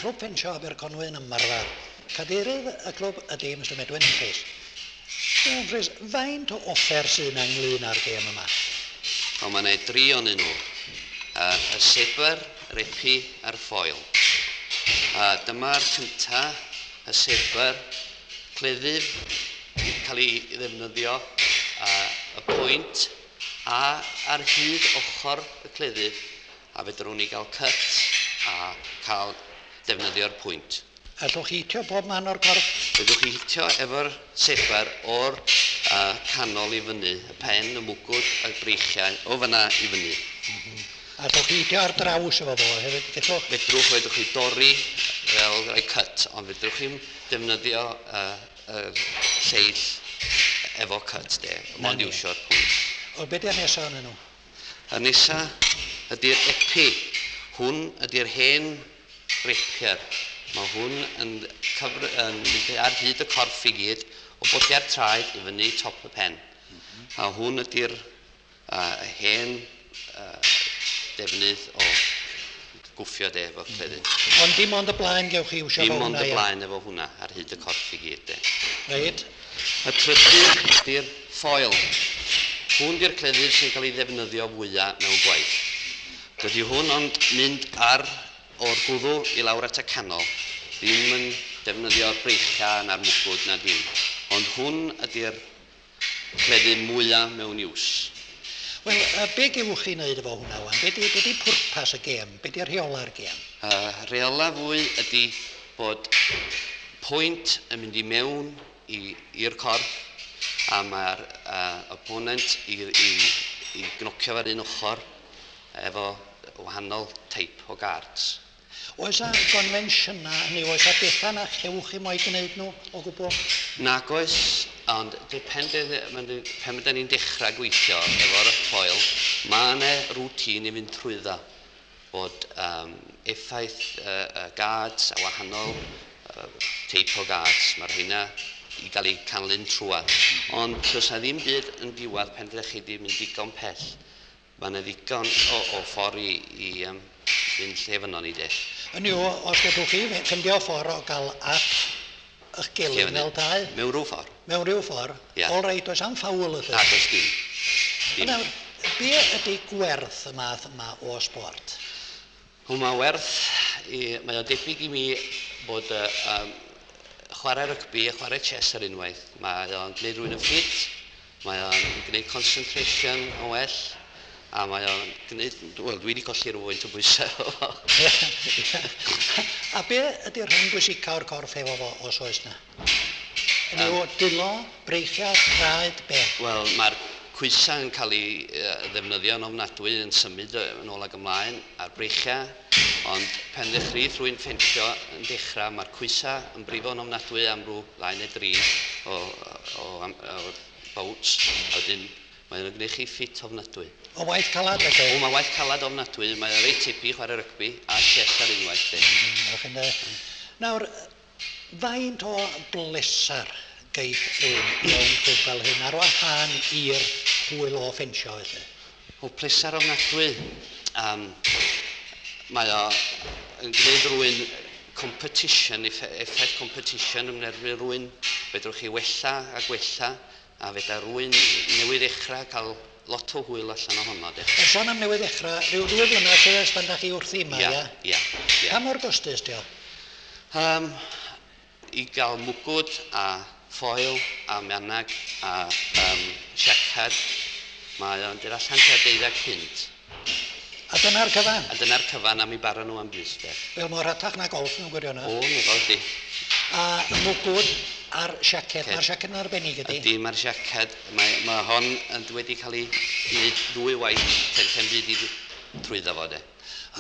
Grŵp Pentre Aberconwy yn ymarfer Cadeirydd y clwb ydy Mister Medwyn Humphreys. Mister Humphreys, faint o offer sydd yna ynglŷn â'r gêm yma? O, mae yna dri onyn nhw. A, y sebr, yr epi a'r ffoil. A, dyma'r cynta, y sebr, cleddyf, cael ei ddefnyddio, a, y pwynt, a, ar hyd ochr y cleddyf, A fedrwn ni gael cut a cael defnyddio'r pwynt? Allwch chi hitio bob man o'r corff? Fedrwch chi hitio efo'r sefer o'r uh, canol i fyny, y pen, y mwgwd, y breichiau, o fyna i fyny. Mm -hmm. Allwch chi hitio ar draws efo fo hefyd, gellwch? Fedrwch, fedrwch chi dorri fel rhoi cut, ond fedrwch chi'n defnyddio uh, uh, lleill efo cut de, mond iwsio'r pwynt. O, beth yw'r nesaf yn nhw? Y nesa ydy'r epi. Hwn ydy'r hen rapier. Mae hwn yn cyfr- yn mynd ar hyd y corff i gyd, o bwlliau'r traed i fyny top y pen. A hwn ydy'r uh, hen uh, defnydd o gwffio de, efo cleddyf. Ond dim ond y blaen gewch chi iwsio efo hwnna, ia? Dim ond y blaen efo hwnna, ar hyd y corff i gyd de. Reit. Y trydydd ydy'r ffoil. Hwn di'r cleddyf sy'n cael ei ddefnyddio fwya mewn gwaith. Dydy hwn ond mynd ar o'r gwddw i lawr at y canol, ddim yn defnyddio'r breichiau na'r mwgwd na dim. Ond hwn ydy'r cleddyf mwya mewn iws. Wel, yy, be' gewch chi 'neud efo hwnna 'wan? Be' 'di be' 'di pwrpas y gêm? Be' 'di rheola'r gêm? Y rheola fwy ydi bod pwynt yn mynd i mewn i i'r corff a ma'r yy opponent i i i gnocio fe ar un ochr efo wahanol teip o gards. Oes 'na gonfensiynau, hynny yw, oes 'na bethau na chewch chi mo'i gwneud nhw o gwbl? Nag oes, ond dipyn beth, pan ydan ni'n dechrau gweithio efo'r coel, mae yna routine i fynd trwyddo, bod um, effaith uh, uh, guards a wahanol uh, teip o guards, mae rheina i gael eu canlun trwad. Ond does na ddim byd yn diwad pen ddech chi wedi mynd digon pell. Mae yna ddigon o, o ffordd i, i um, fynd lle fynnon ni de. Hynny yw, os gallwch chi ffindio ffordd o gael at ych gilydd fel dau... Mewn rhyw ffordd. Mewn rhyw ffordd. Yeah. All right, does am ffawl ydych. Na, does dim. dim. Nawr, be ydy gwerth y math yma o sport? Hwn mae werth i... Mae o debyg i mi bod y um, chwarae rygbi a chwarae chess ar unwaith. Mae o'n gwneud rhywun yn ffit, mae o'n gwneud concentration yn well, a mae o'n gwneud... Wel, dwi wedi colli rhywfaint o bwysau o fo. a be ydy'r rhan bwysicaf o'r corff efo fo, os oes na? Rhyw dwylo, breichiau, traed, be? Wel, mae'r coesau yn cael eu ddefnyddio yn ofnadwy yn symud yn ôl ac ymlaen, a'r breichiau, ond pen ddechreuith rwy'n ffensio yn dechrau, mae'r coesau yn brifo yn ofnadwy am rhyw ddau neu dri o o o bouts, a wedyn mae o'n gwneud chi ffit ofnadwy. O waith calad felly? O, mae waith calad ofnadwy, mae o reit tebyg i chwarae rygbi a chess ar unwaith de. Nawr, Faint o bleser geith ein mewn clwb fel hyn, ar wahân i'r hwyl o ffensio felly? O, pleser ofnadwy. Um, mae o yn gwneud rwy'n competition, effaith competition yn erbyn rwy'n, fedrwch chi wella a gwella A fedar rwy'n newydd ddechrau cael lot o hwyl allan o honno de. A son am newydd ddechrau, rhyw ddwy flynedd sydd ers pan da chi wrthi yma, ia? Ia, ia. Pa mor gostus dio? Um, I gael mwgwd a ffoil a mianag a um, siacad, mae o'n dod allan tua deuddeg punt. A dyna'r cyfan? A dyna'r cyfan a mi bara nhw am bys de. Wel mor rhatach na golff mewn gwirionedd. O, mi fel di. A y mwgwd a'r siaced. Mae'r siaced yn arbennig ydy? Ydy, mae'r siaced. Mae, mae hon yn wedi cael ei wneud ddwy waith pen pen byd i trwyddo fo de.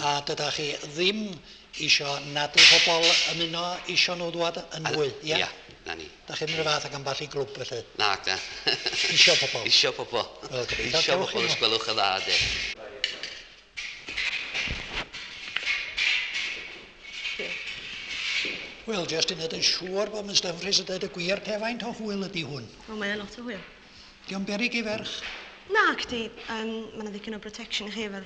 A dyda chi ddim isio nad yw pobl ymuno isio nhw ddwad yn fwy, ia? Ia, na ni. Dach chi'n mynd y fath ag ambell i glwb felly? Nac da. Isio pobl? Isio pobl. Wel, gobeithio. Isio pobl os gwelwch yn dda, de. Wel, jyst i wneud yn siŵr bod Miss Dumfries yn dweud y gwir, pe faint o hwyl ydy hwn? O, mae yna lot o hwyl. Di o'n berig i ferch? Nac di, um, mae yna ddipyn o protection i chi efo'r